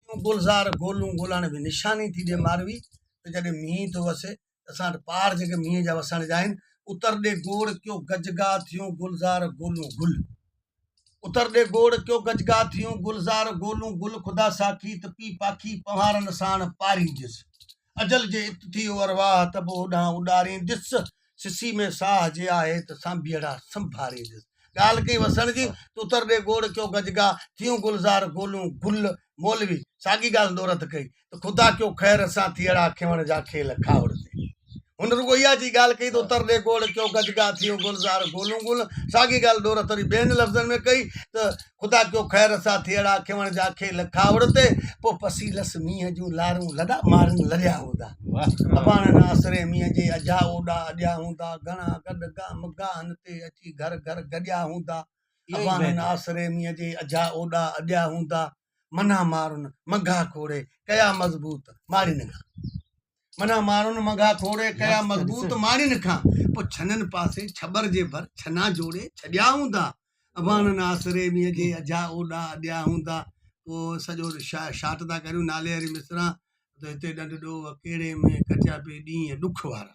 تون گلزار گولون گولاڻي ۾ نشاني ٿي ڏي ماروي ته جڏهن مينهن ٿو وسي ته اسان وٽ پاڙ جيڪي مينهن جا وسڻ جا آهن اتر ڏي گوڙ ڪيو گجگا ٿيون گلزار گولون گل اتر ڏي گوڙ ڪيو گجگا ٿيون گلزار گولون گل خدا ساکي ته پي پاکي پنهارن ساڻ پارينديس اجل جي ات ٿي او ارواح ته به اوڏانهن اڏارين ڏس سسي ۾ ساهه جي آهي ته سانڀيئڙا سنڀارين ڏس ڳالهه ڪئي وسڻ جي ته اتر ڏي گوڙ ڪيو گجگا ٿيون گلزار گولون گل مولوي ساڳي ڳالهه نورت ڪئي ته خدا ڪيو خير اسان ٿيئڙا کيوڻ جا کيل کاهوڙ تي هن رڳو اها چي ڳالهه ڪئي ته اتر ڏي گوڙ ڪيو گجگا ٿيون گلزار گولون گل ساڳي ڳالهه ڏورت وري ٻين لفظن ۾ ڪئي ته خدا ڪيو خير سا ٿيئڙا کيوڻ جا کي لکا اڙ تي پو پسي لس مينهن جون لارون لڏا مارن لڏيا هوندا اباڻن آسري مينهن جي اجها اوڏا اڏيا هوندا گهڻا گڏ گا مگاهن تي اچي گهر گهر گڏيا هوندا اباڻن آسري مينهن جي اجها اوڏا اڏيا هوندا منا مارن مگها کوڙي ڪيا مضبوط ماڙين گا منان ماڻهن مگها کوڙي ڪيا مضبوط ماڻين کان پو ڇنن پاسي ڇٻر جي ڀر ڇنا جوڙي ڇڏيا هوندا اباڻن آسري مينهن جي اجها اوڏا اڏيا هوندا پو سڄو شاٽ ٿا ڪريون نالي واري مصرع ته هتي ڏنڊ ڏوهه ڪهڙي ۾ ڪٽيا پي ڏينهن ڏک وارا